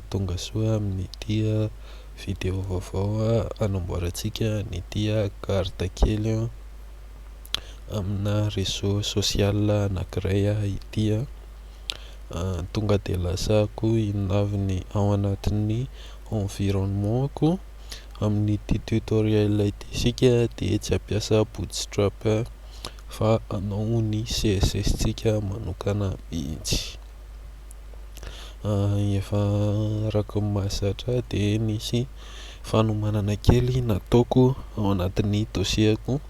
Tonga soa amin'ity video vaovao anamboarantsika an'ity carte kely amina réseau social anankiray ity. Tonga dia lazako inona avy ny ao anatin'ny environnement-ko. Amin'ity tutoriel ity isika dia tsy hampiasa bootstrap fa hanao ny CSS-tsika manokana mihitsy. Efa araka ny mahazatra ahy dia nisy fanomanana kely nataoko ao anatin'ny dossier-ko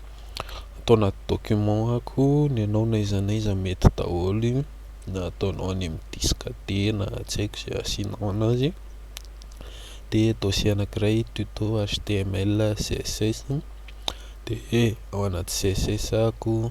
tao anaty document-ko ny anao na iza na iza mety daholo io na ataonao any amin'ny disque dia na tsy haiko izay asianao an'azy dia dossier anakiray tuto html css dia ao anaty css-ko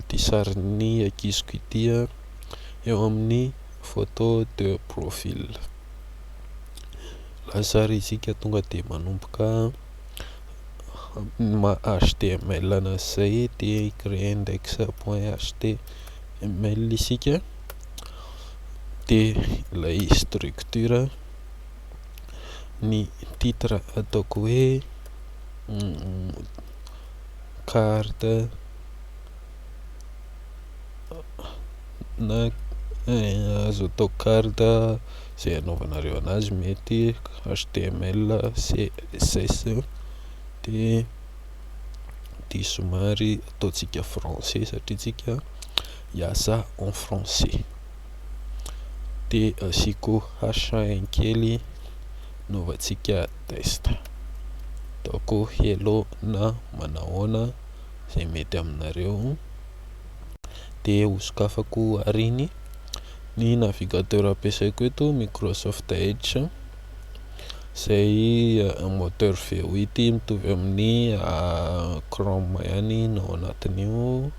ity sarin'ny ankiziko ity eo amin'ny photo de profil lazary isika tonga dia manomboka ma html ana izay dia créer index point html isika dia ilay structure ny titre ataoko hoe carte na azo atao carte izay anaovanareo anazy mety html, css dia ity somary ataontsika français satria isika hiasa en français. dia asiako HN kely hanaovantsika test. Ataoko hello na manahoana izay mety aminareo dia hosokafako ary ny ny navigateur ampiasaiko eto Microsoft Edge izay moteur V8 mitovy amin'ny Chrome ihany ny ao anatin'io.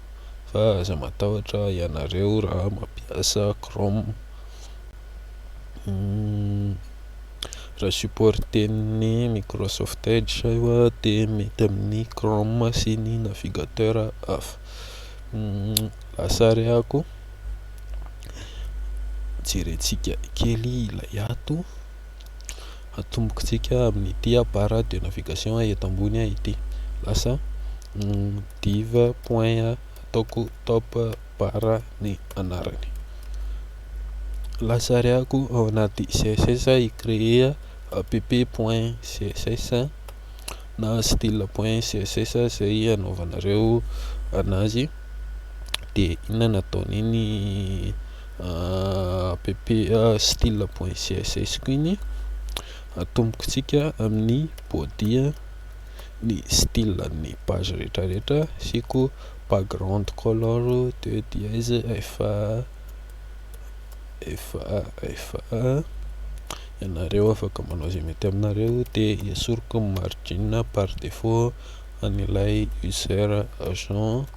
fa aza matahotra ianareo raha mampiasa chrome raha supporten'ny microsoft edge io dia mety amin'ny chrome sy ny navigateur hafa lasa arehako jerentsika kely ilay ato atombokintsika amin'ity a barre de navigation eto ambony a ity lasa div point ataoko top barre ny anarany lasa ariako ao anaty css i créer app point css na style point css izay anaovanareo anazy dia inona no ataon'iny app style point css koa iny atomboko tsika amin'ny body ny style an'ny page rehetra rehetra asiako background color de dièse fa fa ianareo afaka manao izay mety aminareo de esoriko ny margin par defaut an'ilay user agent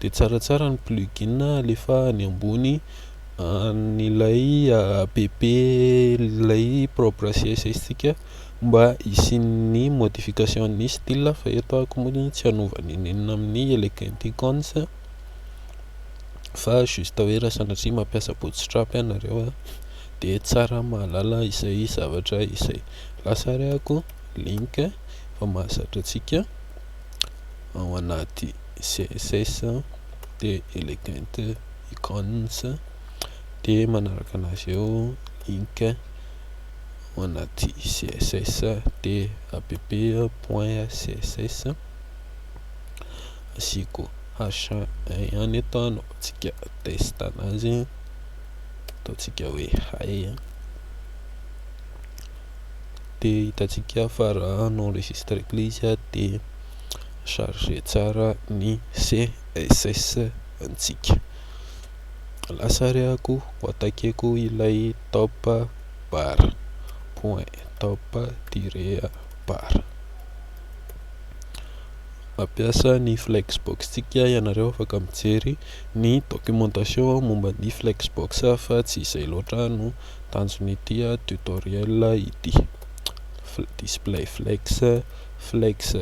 Dia tsaratsara ny plugin alefa any ambony an'ilay app ilay propre CSS tsika mba hisian'ny modification an'ny style fa eto aho koa moa tsy hanova n'inon'inona amin'ny elegant icons fa juste hoe raha sanatria mampiasa bootstrap ianareo dia tsara mahalala izay zavatra izay, lasa ary aho koa link fa mahazatra antsika ao anaty. css dia elegant icons dia manaraka anazy eo ink ao anaty css dia app point css asiako h ihany eto anaovantsika test anazy ataontsika hoe hay dia hitantsika fa raha en enregistre ilay izy dia charger tsara ny CSS ntsika. Lasa re ako ho attaqueko ilay top bar point top tiré bar. Mampiasa ny flexbox ntsika ianareo afaka mijery ny documentation momba ny flexbox fa tsy izay loatra no tanjon'ity tutoriel ity. Display flex. Flex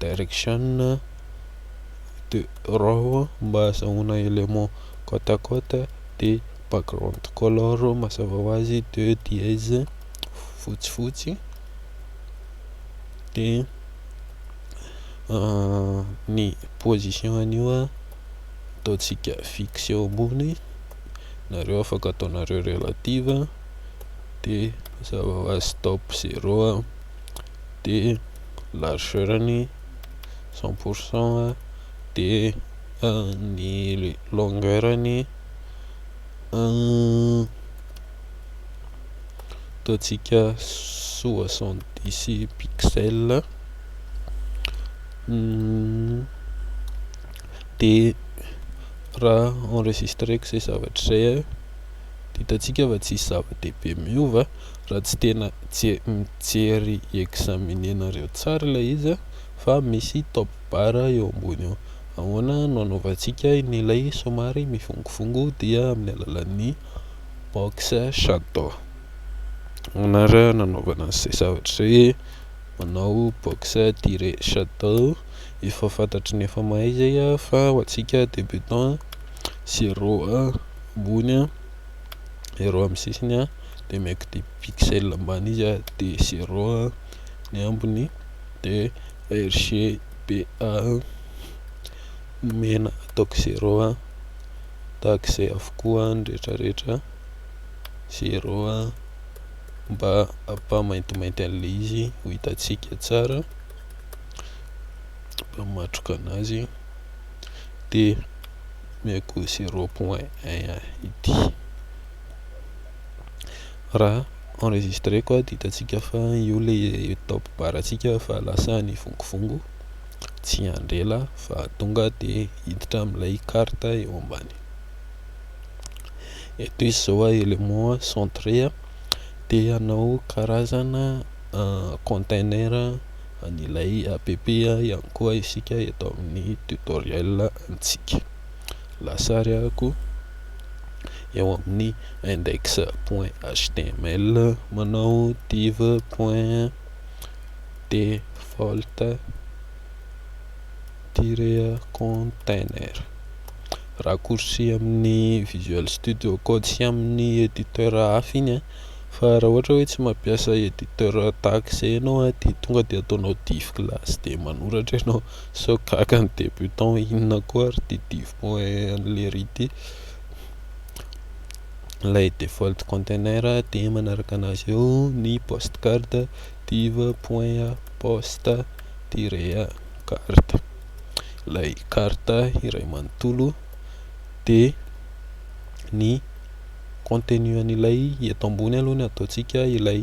Direction de raw mba hazahoana élément côte à côte dia background color mazava ho azy de dièse fotsifotsy dia ny position an'io ataontsika fixe eo ambony nareo afaka ataonareo relative dia mazava ho azy stop zero dia largeur-ny cent pour cent dia ny longueur-ny ataontsika soixante dix pixels dia raha enregistreko izay zavatra izay dia hitantsika fa tsy misy zava-dehibe miova. raha tsy tena tsy mijery examiner nareo tsara ilay izy a, fa misy top bar eo ambony eo, ahoana no anaovantsika an'ilay somary mivongovongo dia amin'ny alalan'ny box shadow ahoana ary no anaovana an'izay zavatra izay e, manao box tiret shadow efa fantatry ny efa mahay izay a, fa ho antsika debutant zero ambony a, zero amin'ny sisiny a. de maiky de pixel ambany izy a de zero a ny ambiny de RGBA ny mena ataoko zero a tahaka izay avokoa ny rehetra rehetra zero a mba hampa maintimainty anle izy ho hitantsika tsara mba matroka anazy de omeko zero point un ity. Raha enregistré ko dia hitantsika fa io ilay top bar antsika fa lasa nivongivongo tsy handry ela fa tonga dia hiditra amin'ilay carte eo ambany. Eto izy izao a élément centré a te hanao karazana container an'ilay app ihany koa isika eto amin'ny tutoriel antsika. lasariako eo amin'ny index point html manao div point default tiret container raccourci amin'ny visual studio code sy amin'ny editeur hafa iny a fa raha ohatra hoe tsy mampiasa editeur tahaka izay ianao dia tonga dia ataonao div class dia manoratra ianao Sao gaga ny débutant inona koa ary ity divo point an'i lery ity. Ilay default container dia manaraka anazy eo ny post card div point post tiret card. Ilay carte iray manontolo dia ny contenu an'ilay eto ambony aloha ny ataontsika ilay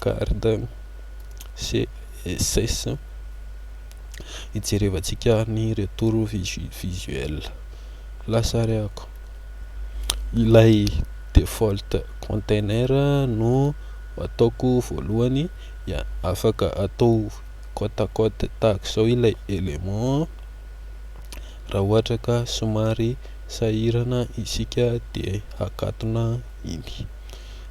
Garde, CSS, hijerevantsika ny retour visuel. Lasarihako. Ilay default container no ataoko voalohany, dia afaka atao côte à côte tahaka izao ilay élément raha ohatra ka somary sahirana isika dia hakatona iny.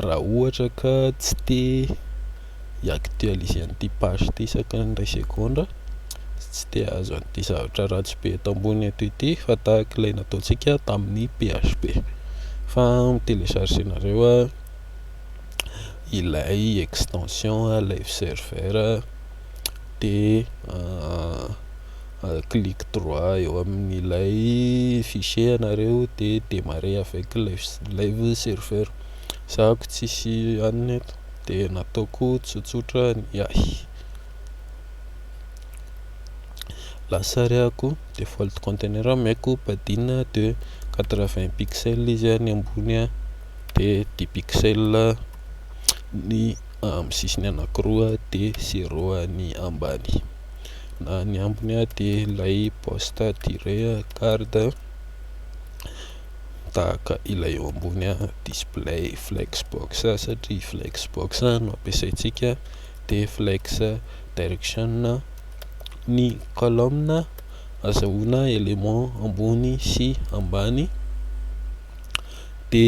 Raha ohatra ka tsy te hi-actualiser an'ity page ity isaka ny iray segondra sy tsy te hahazo an'ity zavatra ratsy be eto ambony eto ity fa tahaka ilay nataontsika tamin'ny PHP fa mi-telecharger-nareo ilay extension live server dia clique droit eo amin'ilay fichier ianareo de demarrer avec live serveur, zahako tsisy anona eto de nataoko tsotsotra ny ahy, lasa arahako default container ameko padina de quatre vingt pixels izy any ambony de dix pixels ny amin'ny sisiny anakiroa de zero any ambany. na ny ambiny ah de ilay poste tiré garde tahaka ilay eo ambony ah display flex box satria flex box no ampiasaintsika de flex direction ny colonne azahoana élément ambony sy ambany de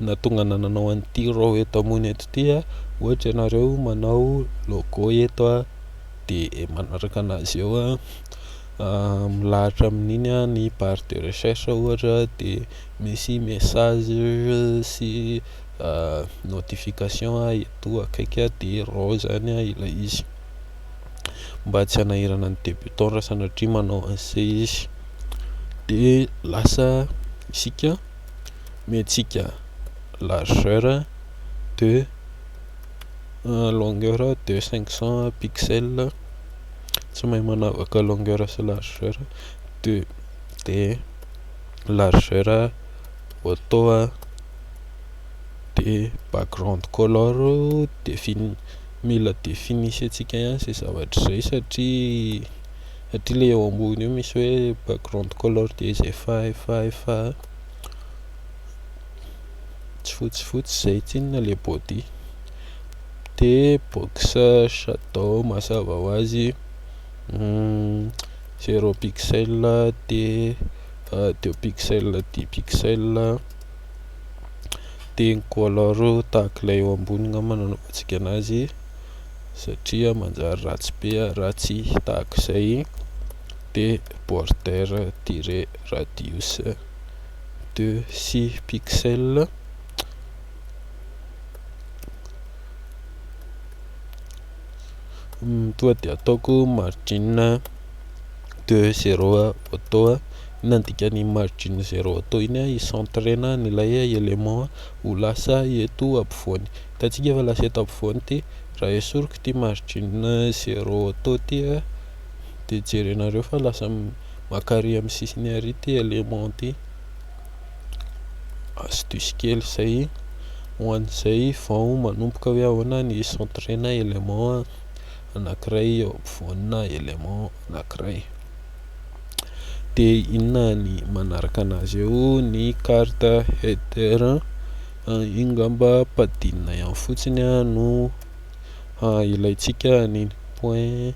nahatonga anah nanao an'ity row eto ambony eto ity ah ohatra ianareo manao logo eto ah. dia manaraka an'azy eo a, milahatra amin'iny a ny barre de recherche ohatra dia misy message sy notification eto akaiky a dia reo zany a ilay izy mba tsy hanahirana ny debutant raha sanatria manao an'se izy dia lasa isika miantsika largeur de longueur de 500 pixels tsy mahay manavaka longueur sy largeur de de largeur auto de background color de fini- mila definisentsika ihany izay zavatra izay satria satria le eo ambony eo misy hoe background color de izay efa efa efa. tsy fotsifotsy zay tsinona le body de boxe shadow mazava ho azy zero pixel de deux pixel dix pixel de ny color tahaka ilay eo ambony angamba no anaovantsika anazy satria manjary ratsy be ratsy tahaka izay de border tire radius de six pixels toa dia ataoko margin de zero auto inona no dikan'ny margin zero auto iny ah hi-centrer-na an'ilay élément ho lasa eto ampovoany hitantsika fa lasa eto ampovoany ity raha esoriko ity margin zero auto ity dia jerenareo fa lasa Maka ary amin'ny sisiny ary ity élément ity, astuce kely izay ho an'izay vao manomboka hoe ahoana ny hi-centrer-na élément anankiray eo ampovoanina élément anankiray. Dia inona ny manaraka an'azy eo? Ny carte header, io ngamba padinina ihany fotsiny no ilaintsika an'iny point.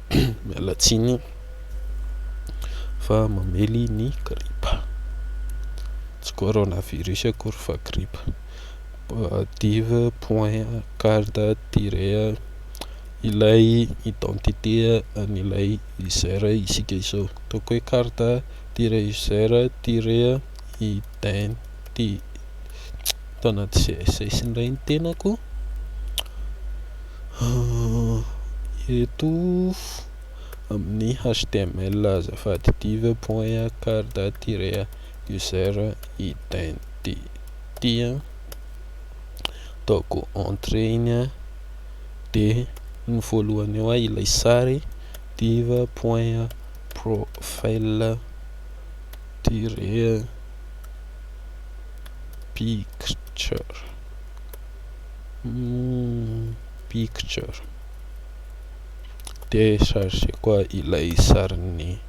miala tsiny fa mamely ny gripa tsy corona virus akory fa gripa div point card tire ilay identité an'ilay user isika izao ataoko hoe card tire user tire ident dia tao anaty CSS indray ny tenako eto amin'ny html azafady div point card tiré user identity ataoko entrée iny a dia ny voalohany eo ilay sary div point profile tiré picture hmm picture dia chargeko ilay sarin'ny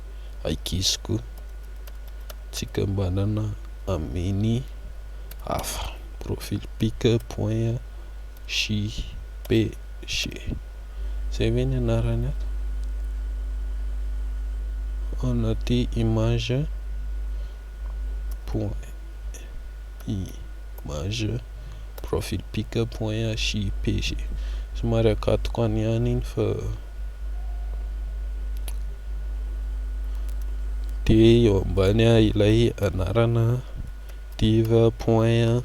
ankiziko tsikambanana amin'ny hafa profil pic point JPG. Zay ve ny anarany ato? Anaty image point image profil pic point JPG. Somary akatoko any ihany iny fa dia eo ambany ilay anarana div point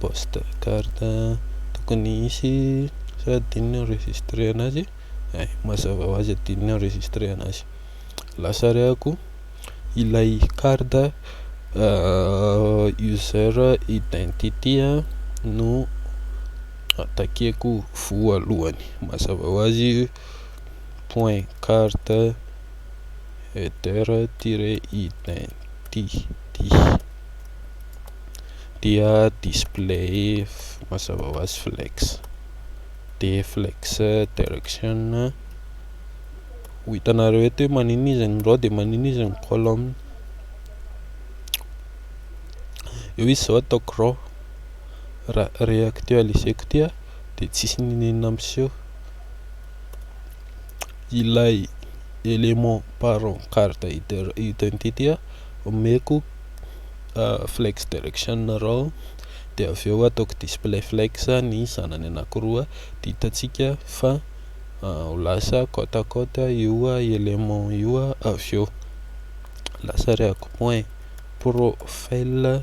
Poste carte tokony hisy sa adinony enregistrer anazy eh mazava hoazy adinony enregistrer anazy lasa rehako ilay carte user identity no attaqueko voalohany mazava hoazy point carte. header-identity dia display mazava ho azy flex dia flex direction ho hitanareo eto hoe maninona izy ny row dia maninona izy ny column eo izy izao ataoko row raha reactualiser-ko ity aho dia tsisy n'inon'inona miseho ilay element parent carte identity omeko flex direction rao de avy eo ataoko display flex ny zanany anakiroa de hitantsika fa ho lasa côte à côte io element io avy eo lasa ariako point profile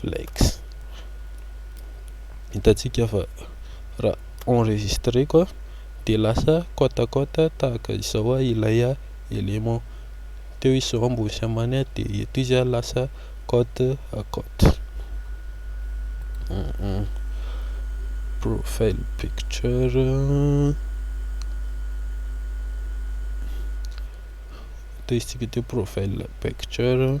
Flex. Hitantsika fa raha enregistreko dia lasa côte à côte tahaka izao ilay élément. Teo izy zao ambony sy ambany dia eto izy lasa côte à côte. Profile picture. Teo izy tsika teo profile picture.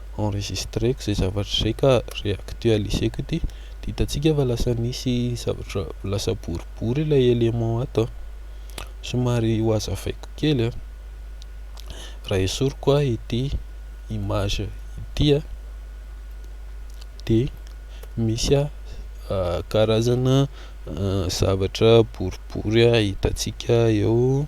enregistreko zay zavatra zay ka reactualiseko ity de hitantsika fa lasa misy zavatra lasa boribory ilay élément ato a somary ho hazavaiko kely a raha esoriko a ity image ity a de misy a karazana zavatra boribory a hitantsika eo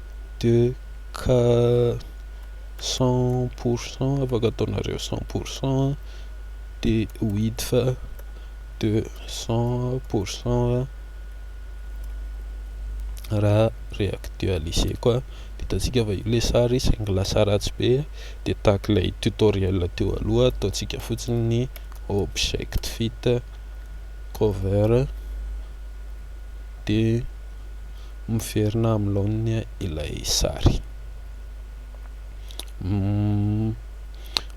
de ka cent pour cent afaka ataonareo cent pour cent de width de cent pour cent raha reactualiser-ko a, vitantsika avy eo ilay sary saingy lasa ratsy be de tahaka ilay tutoriel teo aloha ataontsika fotsiny ny object fit cover de. miverina amin'ny laoniny ilay sary.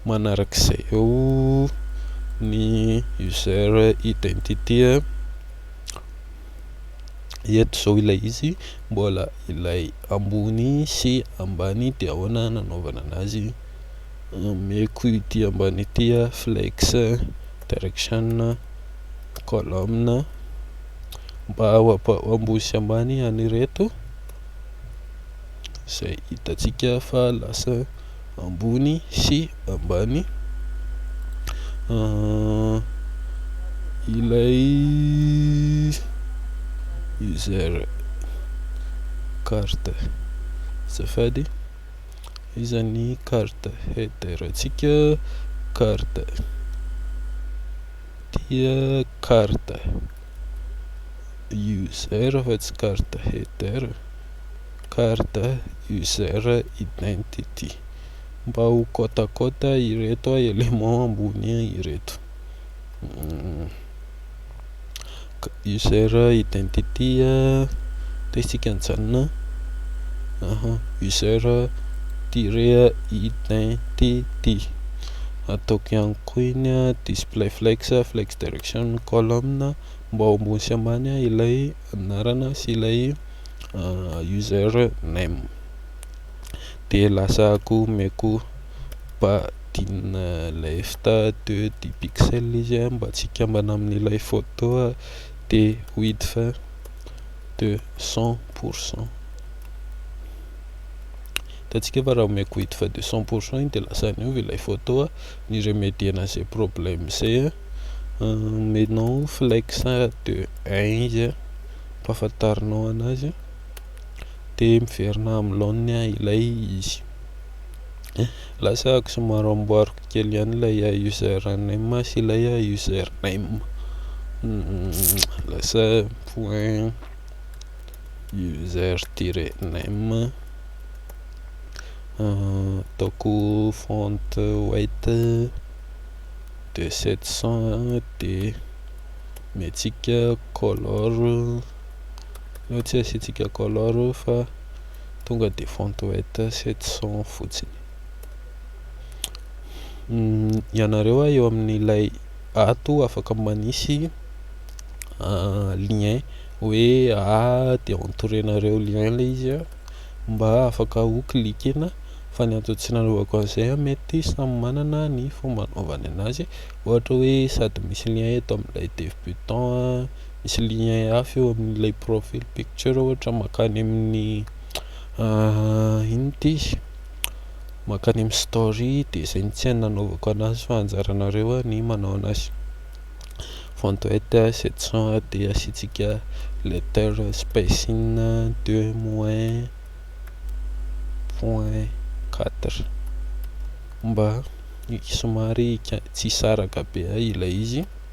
Manarak'izay eo ny user identity. Eto izao ilay izy mbola ilay ambony sy ambany dia ahoana nanaovana an'azy. Ameko ity ambany ity flex direction column mba ambosy ambany an'ireto izay hitantsika fa lasa ambony sy ambany ilay user carte azafady. Iza ny carte header ntsika? Carte dia carte user fa tsy carte header, carte user identity. Mba ho côte à côte ireto éléments ambony ireto. user identity dia isika nijanona user tiret identity ataoko ihany koa iny display flex flex direction column mba ho ambony sy ambany ilay anarana sy ilay user name dia lasa akoho omeko ba Ampiadiana ilay stade dix pixels izy an mba tsy hikambana amin'ilay photo dia width de cent pour cent hitantsika fa raha omeko width de cent pour cent iny dia lasa niova ilay photo an ny remediena izay problème izay an omenao flex de un izy an ampahafantarinao anazy dia miverina amin'ny laoniny ilay izy Lasa ako somary amboariko kely ihany ilay username sy ilay username lasa point user tiret name ataoko font white de sept cent de omentsika color fa tsy asiantsika color fa Tonga de fontoette sept cents fotsiny. Ianareo a eo amin'ilay ato afaka manisy lien hoe aa de entorenareo lien le izy a mba afaka ho cliquena fa ny antony tsy nanaovako an'izay a mety samy manana ny fomba anaovany an'azy ohatra hoe sady misy lien eto amin'ilay debutant a. Misy lien hafa eo amin'ilay profile picture ohatra makany amin'ny inona ty makany amin'ny story dia izay no tsy hainy nanaovako anazy fa anjaranareo ah ny manao anazy font weight 700 dia asiantsika letter spacing deux moins point quatre mba somary tsy hisaraka be ilay izy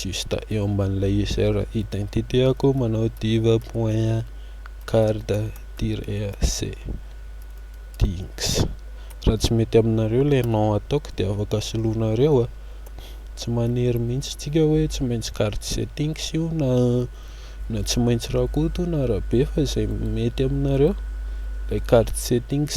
juste eo amban'ilay user identité ako manao diva point card tire c dings raha tsy mety aminareo ilay nom ataoko dia afaka soloinareo a tsy manery mihitsy tsika hoe tsy maintsy card settings io na na tsy maintsy rakoto na rabe fa izay mety aminareo ilay card settings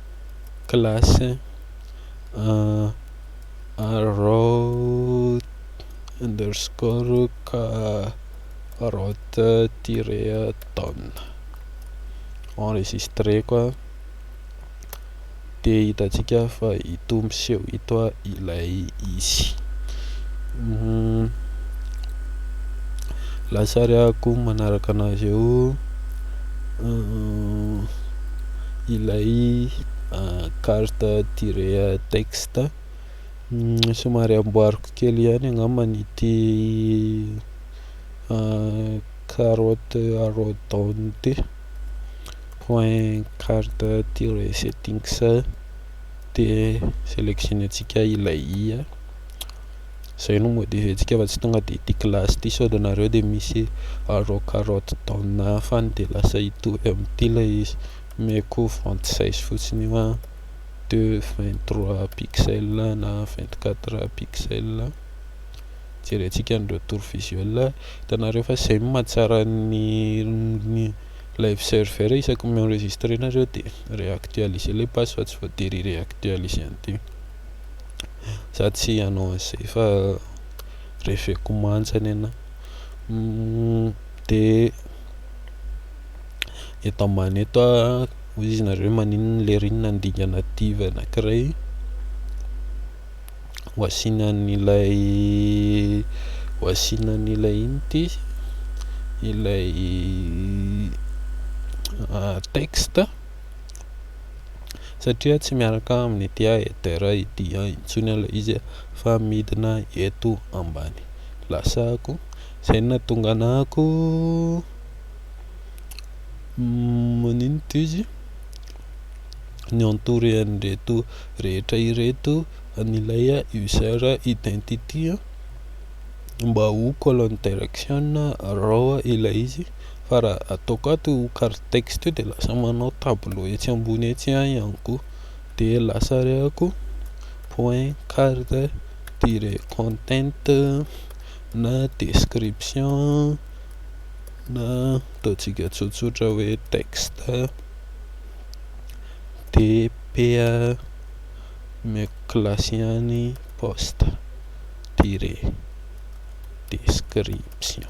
classe arrow underscore carotte tiré down enregistreko aho dia hitantsika fa ito miseho ito ilay izy lasary akoho manaraka an'azy eo ilay carte tirer texte somary amboariko kely ihany angambany ity carotte arrowdown ity point carte tirer settings dia sélectionner-ntsika ilay i Zay no modely antsika fa tsy tonga de ity classe ity sao de nareo de misy arao carotte dans nain fa ny de lasa hitohy amin'ity ilay izy mais ko vente size fotsiny io an de vingt trois pixels na vingt quatre pixels jerentsika ny retour visuel hitanareo fa zay no mahatsara ny ny live server isaky ny mi-enregistrer nareo de réactualiser ilay page fa tsy voatery hi-réactualiser an'ity za tsy hanao an'izay fa reveko manja ny anah de eto ambany eto ah hoy izy nareo maninona le ry inona ny dingana diva anakiray ho asiana an'ilay ho asiana an'ilay inona ity ilay texte. satria tsy miaraka aminy dia etera ity an intsony ilay izy a fa midina eto ambany lasako izay nahatonga anako maninona ity izy ny entouré an'ireto rehetra ireto an'ilay user identity mba ho colonne direction araho ilay izy fa raha ataoko ato io carte texte io dia lasa manao tableau etsy ambony etsy aho ihany koa dia lasa arehako point carte tire content na description na ataontsika tsotsotra hoe texte dp omeko classe ihany poste tire description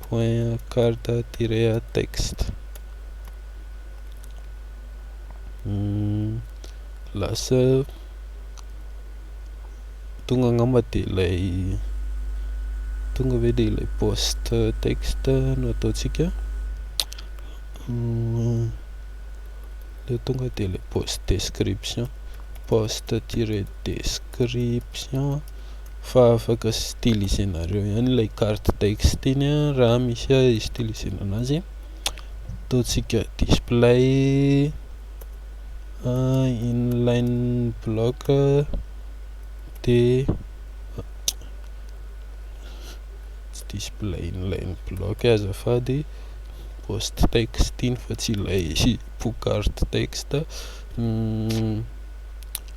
Point card tiret à text lasa tonga angamba dia ilay tonga ve dia ilay post text no ataontsika ilay tonga dia ilay post description post tiret description fa afaka stylisenareo ihany ilay carte texte iny a raha misy a istylisena anazy ataontsika display inline block dia tsy display inline block azafady post texte iny fa tsy ilay pou carte texte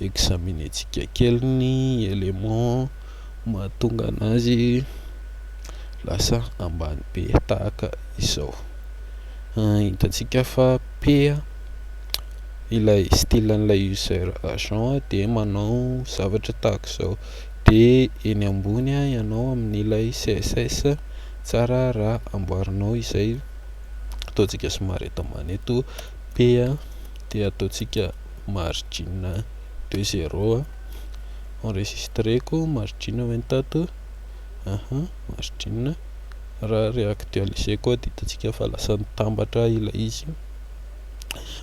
examiner-tsika kely ny éléments mahatonga anazy lasa ambany be tahaka izao. Hitantsika fa P ilay style an'ilay user agent dia manao zavatra tahaka izao, dia eny ambony ianao amin'ilay CSS tsara raha amboarinao izay ataontsika somary eto ambany eto P dia ataontsika. margin de zero a, enregistreko margin ve ny tato, aha margin, raha re-actualiser koa dia hitantsika fa lasa nitambatra ilay izy,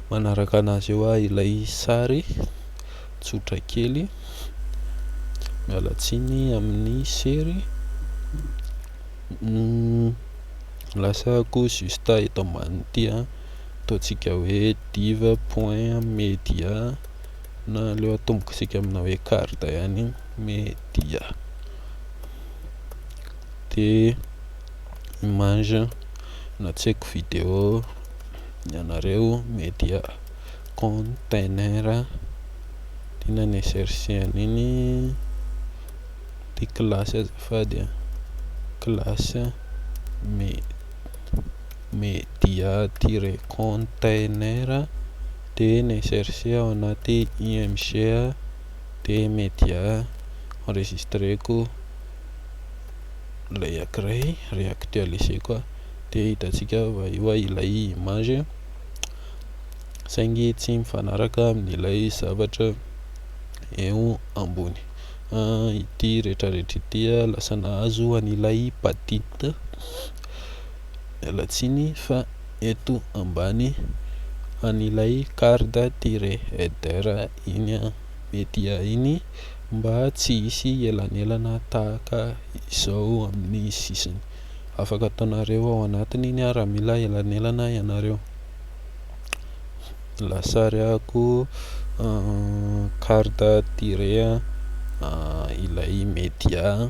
manaraka an'azy eo ah ilay sary, tsotra kely, miala tsiny amin'ny sery, lasa ko juste eto ambany ity an. ataontsika hoe div point media na aleo atomboka isika amina hoe carte ihany media de image na tsy haiko video ny anareo media container inona ny src an'iny de classe azafady a classe media media-tire-container dia ny src ao anaty img dia media enregistreko ilay ankiray re-actualiseko dia hitantsika fa efa ilay image saingy tsy mifanaraka amin'ilay zavatra eo ambony ity rehetra rehetra ity lasa nahazo an'ilay badit miala tsiny fa eto ambany an'ilay card tire header iny an, mety ahiny mba tsy hisy elanelana tahaka izao amin'ny sisiny. Afaka ataonareo ao anatiny iny an raha mila elanelana ianareo. Lasariako card tire ilay media.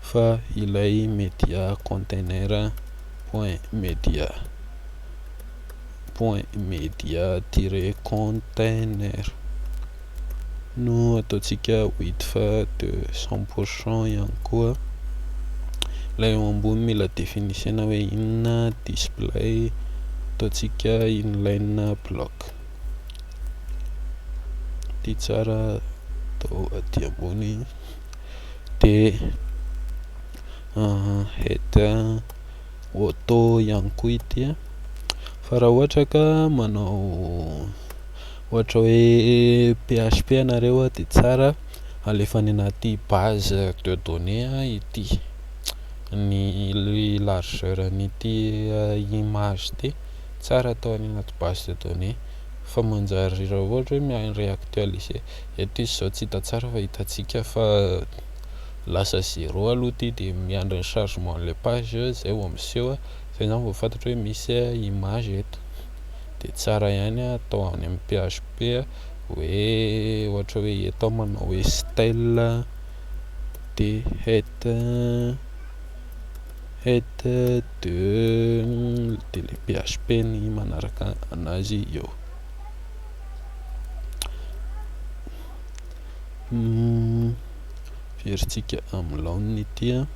fa ilay media container point media point media tire container no ataontsika wid fa de cent pour cent ihany koa ilay eo ambony mila definisena hoe inona display ataontsika inline block ity tsara atao aty ambony dia header auto ihany koa ity fa raha ohatra ka manao ohatra hoe php ianareo dia tsara alefa any anaty base de données ity ny largeur an'ity image ity tsara atao any anaty base de données fa manjary raha ohatra hoe mi-reactualiser Eto izy izao tsy hita tsara fa hitantsika fa lasa zéro aloha ity dia miandry ny chargement ilay page izay vao miseho izay izany vao fantatro hoe misy image eto dia tsara ihany atao any amin'ny php hoe ohatra hoe eto aho manao hoe style dhet het de dia ilay php ny manaraka anazy eo Heverintsika amin'ny laoniny ity an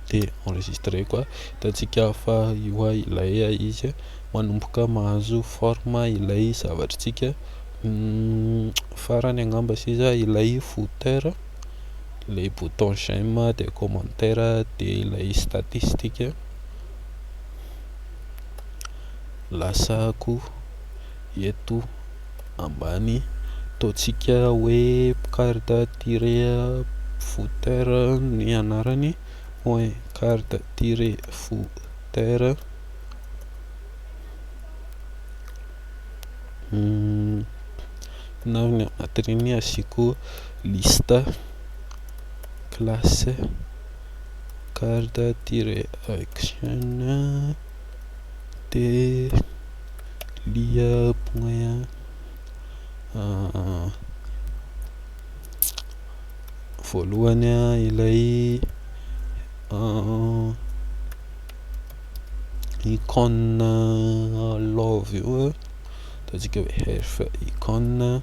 dia enregistreko an hitantsika fa io an ilay izy an manomboka mahazo forme ilay zavatr'tsika farany angamba sisa ilay footer ilay bouton j'aime dia commentaire dia ilay statistique. lasako eto ambany ataontsika hoe carte tire footer ny anarany hoe carte tire footer na ny anatin'iny asiako liste classe card tiret action de lia point voalohany ilay icône love io ataontsika hoe hearth icône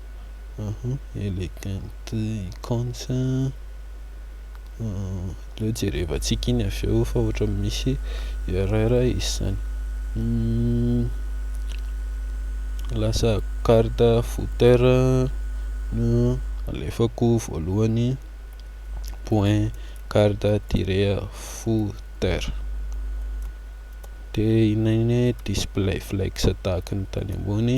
Elegant icons aleo jerevantsika iny avy eo fa ohatran'ny misy erreur izy zany lasa carte footer no alefako voalohany point carte tire footer de inona iny hoe display flex tahaka ny tany ambony.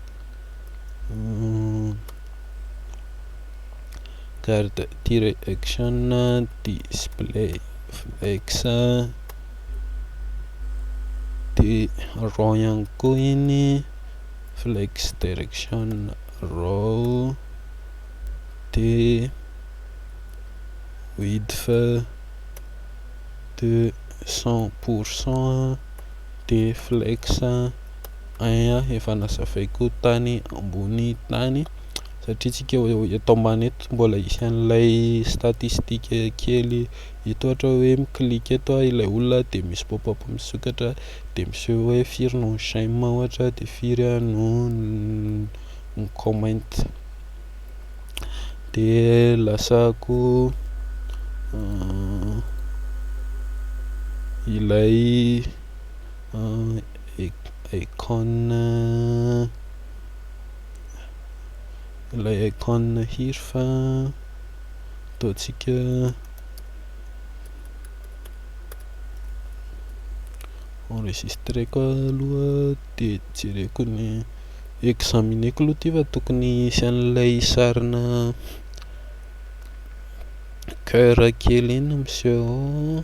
Garde tire action display flex de raw ihany koa iny flex direction raw de width de cent pour cent de flex Ain efa nazavaiko tany ambony tany satria tsika eto ambany eto mbola hisy an'ilay statistique kely eto ohatra hoe mi-click eto aho ilay olona dia misy pop up misokatra dia miseho hoe firy no j'aime ohatra dia firy aho no mi-comment dia lasa ko ilay Icon ilay icon hir fa ataontsika enregistreko aloha dia jereko ny examineko aloha ity fa tokony hisy an'ilay sarina coeur kely iny miseho ao.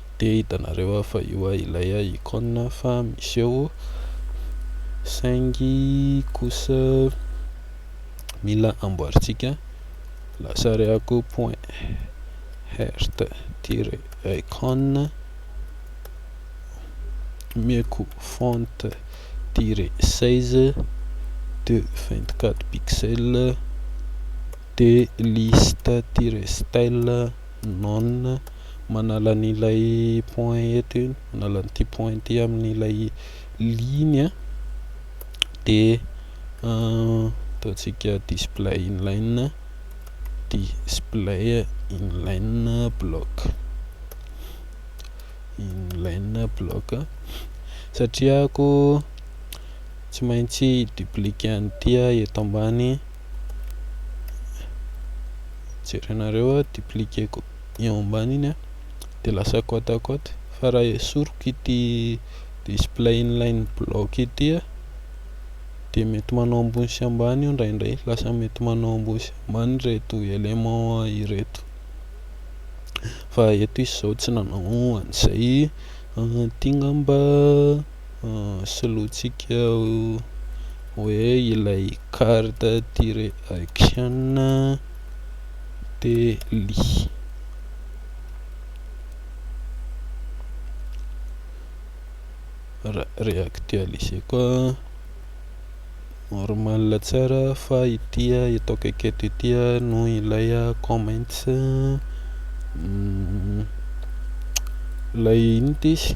dia hitanareo aho fa io aho ilay aho icône fa miseho saingy kosa mila amboarintsika lasary ako point hert tire icône omeko font tire 16 de 24 pixel dia liste tire style non manala an' ilay point eto iny, manala an' ity point ity amin' ilay ligne dia ataontsika display inline display inline block inline block satria ako tsy maintsy dupliquer an' ity aho eto ambany. jerenareo aho dupliquer-ko eo ambany iny dia lasa côte à côte fa raha esoriko ity display inline block ity dia mety manao ambony sy ambany io indraindray lasa mety manao ambony sy ambany ireto éléments ireto fa eto izy izao tsy nanao an'izay ity ngamba solointsika hoe ilay carte tire action tely reactualiser koa normal tsara fa ity eto akaiky eto ity no ilay comments ilay inona ity izy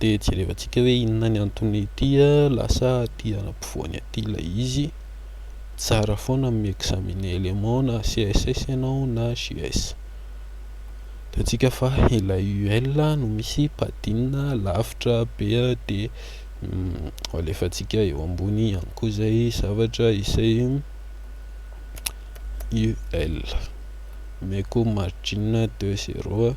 dia jerevantsika hoe inona ny antony ity lasa aty ampovoany aty ilay izy, tsara foana ny mi-examine élément na CSS ianao na JS, hitantsika fa ilay UL no misy padding-na lavitra be dia alefantsika eo ambony ihany koa izay zavatra izay UL, omeko margin de zéro.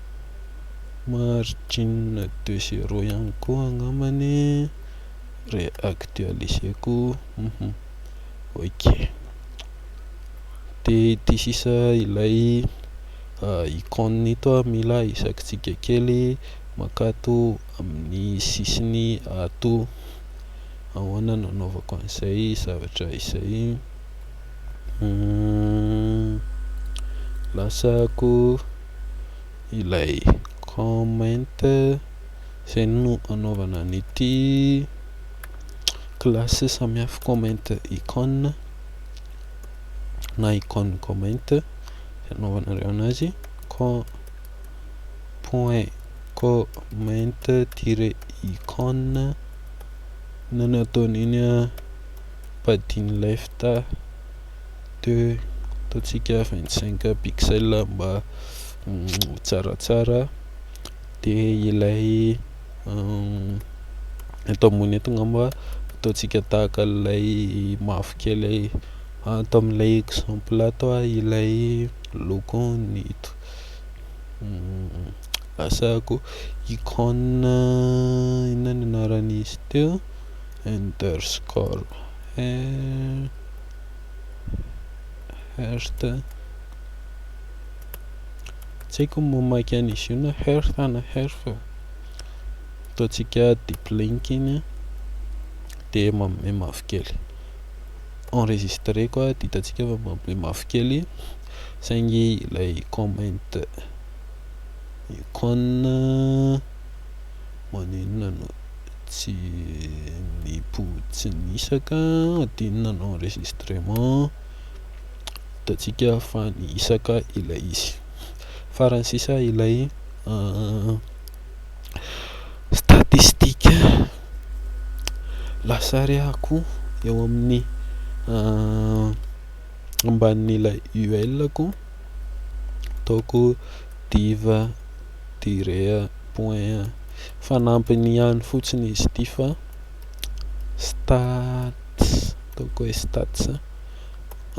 Margine de zero ihany koa angamba ny re-actualiser-ko hum ok de ity sisa ilay icône ito aho mila isakitsika kely maka ato amin'ny sisiny ato ahoana no anaovako an'izay zavatra izay hum lasako ilay comment izay no anaovana an'ity classe samihafa comment icône na icône comment izay anaovanareo anazy point comment tiret icône na ny ataon'iny padian'ny left de ataontsika 25 pixels mba ho tsaratsara de ilay eto ambony eto ngamba ataontsika tahaka ilay mavokely ato amin'ilay exemple ato ah ilay lokony ito asako icône inona ny anaran'izy teo underscore Hearth tsy haiko ny mamaky an'izy io na Hearth na Hearth ataontsika deep link iny dia manome mavokely enregistré koa dia hitantsika fa manome mavokely saingy ilay comment icône Maninona no tsy mipo tsy nisaka adinina ny enregistrement hitantsika fa nisaka ilay izy farany sisa ilay statistique lasary ako eo amin'ny ambanin'ilay ul ko ataoko diva tirer, point a. Fanampiny ihany fotsiny izy ity fa stats, ataoko hoe stats.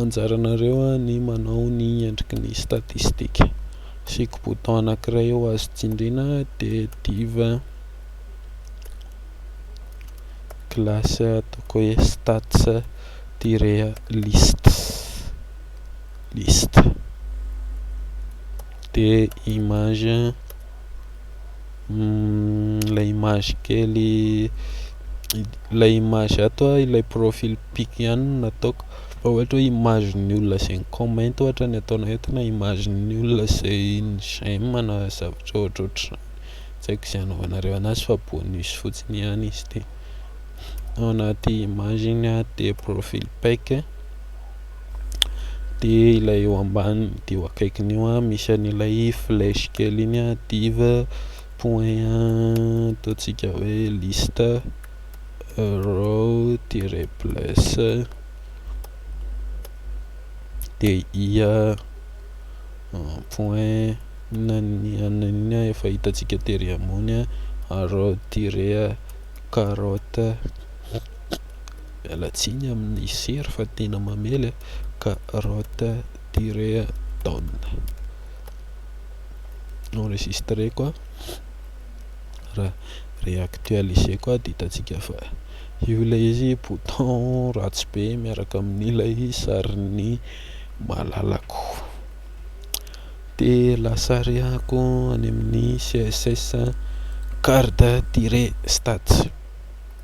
Anjaranareo ny manao ny endriky ny statistika. Asiako bouton anankiray eo azo tsindriana dia div classe ataoko hoe stats tirer list, liste. Dia image ilay image kely ilay image ato ah ilay profil pic ihany no nataoko fa ohatra hoe image ny olona izay ni-comment ohatra ny ataonao eto na image ny olona izay ni-j'aime na zavatra ohatrohatr'izany, tsy haiko izay anaovanareo an'azy fa bonus fotsiny ihany izy ity, ao anaty image iny ah dia profil pic. de ilay eo ambany de eo akaikiny io an misy an'ilay flèche kely iny an div point ataontsika hoe liste row tiret plus de i point inona ny anona iny an efa hitantsika tery ambony an arrow tiret carotte Miala tsiny amin'ny sery fa tena mamely a! Carotte tirer down enregistreko a! Raha reactualiser-ko a! Dia hitantsika fa io ilay izy bouton ratsy be miaraka amin'ilay sarin'ny malalako. Dia lasa arehako any amin'ny CSS card tirer stats.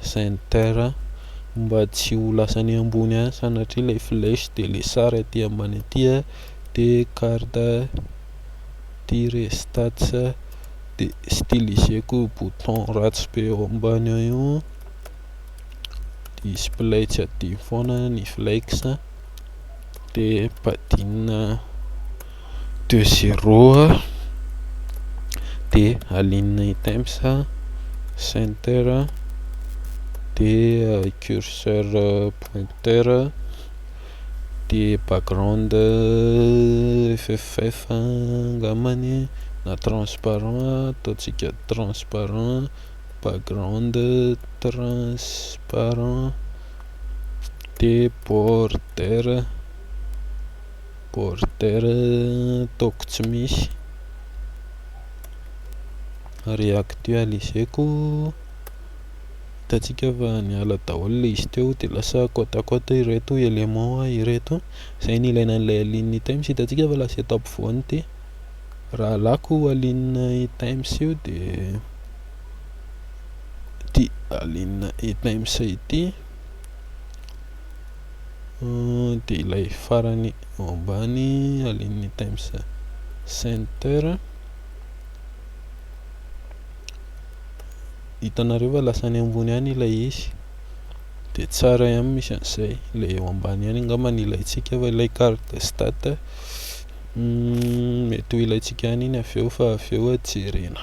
Center mba tsy ho lasany ambony any sanatria ilay flèche dia ilay sary aty ambany aty a dia carte tire stats dia styliseko io bouton ratsy be eo ambany eo io display tsy adino foana ny flex. dia badinina deux zero dia alinina ny temps center dia curseur pointeur dia background FFF angambany e na transparent ataontsika transparent background transparent de border border ataoko tsy misy reactualiser-ko hitantsika fa niala daholo ilay izy teo dia lasa côte à côte ireto éléments ireto izay no ilaina an'ilay alin'ny times hitantsika fa lasa eto ampovoany ity raha alàko alin'ny times io dia ity Alina E Times ity dia ilay farany ao ambany Alina E Times Center hitanareo fa lasa any ambony any ilay izy dia tsara ihany misy an'izay ilay eo ambany ihany angamba ny ilaintsika fa ilay carte stat mety ho ilaintsika ihany iny avy eo fa avy eo jerena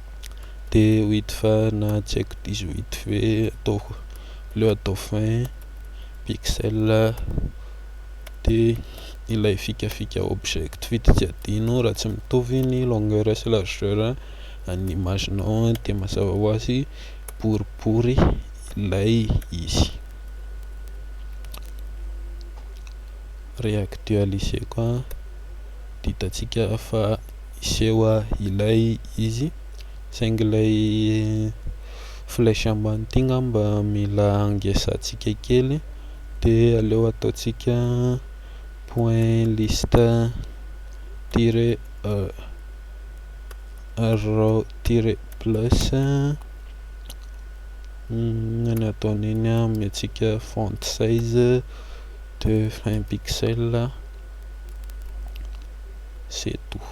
de wid fa na tsy haiko dix-huit ve ataoko aleo atao vingt pixels de ilay fikafika object feed tsy adino raha tsy mitovy ny longueur sy largeur an'ny image nao de mazava ho azy boribory ilay izy re-actualiser-ko an, dia hitantsika fa. hiseho ilay izy saingy ilay flèche ambany ity ngamba mila hangesantsika kely de aleo ataontsika point liste tire row tire plus ny ataon'iny amin'ny antsika font size de 20 pixel C'est tout.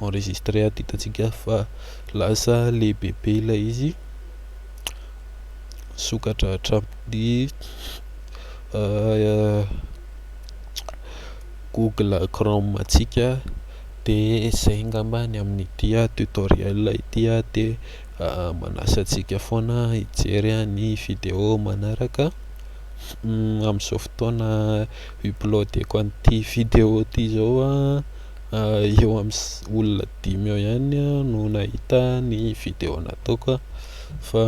Enregistré ato hitantsika fa lasa lehibe be ilay izy. Sokatra hatramin'ny euh, Google Chrome antsika de zay ngamba ny amin'ity tutoriel ity de manasa antsika foana hijery ny video manaraka. Amin'izao fotoana upload-eko an'ity video ity izao eo amin'ny olona dimy eo ihany no nahita ny video nataoko fa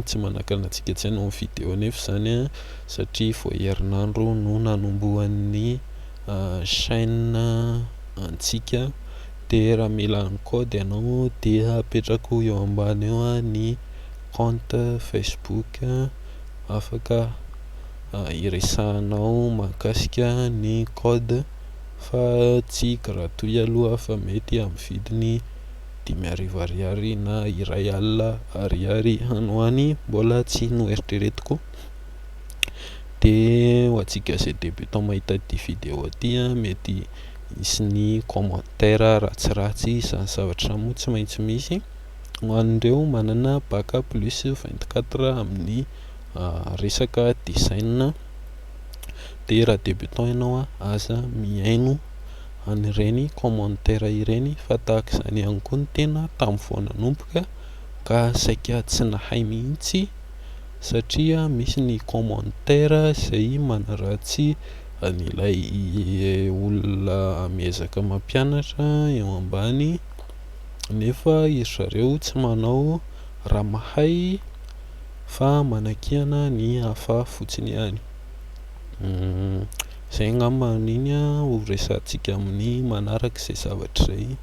tsy manakana antsika intsony ny video nefa izany satria vao herinandro no nanombohan'ny chaîne antsika dia raha mila ny code ianao dia apetrako eo ambany eo ny compte Facebook afaka hiresahanao mahakasika ny code fa tsy gratuit aloha fa mety amin'ny vidiny dimy arivo ariary na iray alina ariary any ho any mbola tsy noeritreretiko de ho antsika zay debutant mahita ity video ity mety hisy ny commentaire ratsiratsy izany zavatra izany moa tsy maintsy misy. ho an'ireo manana bac plus 24 amin'ny resaka design dia raha débutant ianao aza mihaino an'ireny commentaire ireny fa tahaka izany ihany koa ny tena tamin'ny vao nanomboka ka saika tsy nahay mihitsy satria misy ny commentaire izay manaratsy an'ilay olona miezaka mampianatra eo ambany nefa iry zareo tsy manao raha mahay fa manakiana ny hafa fotsiny ihany. Izay angamba amin'iny ho resahantsika amin'ny manaraka izay zavatra izay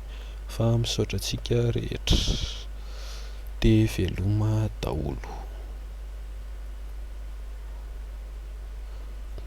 fa misaotra antsika rehetra dia veloma daholo.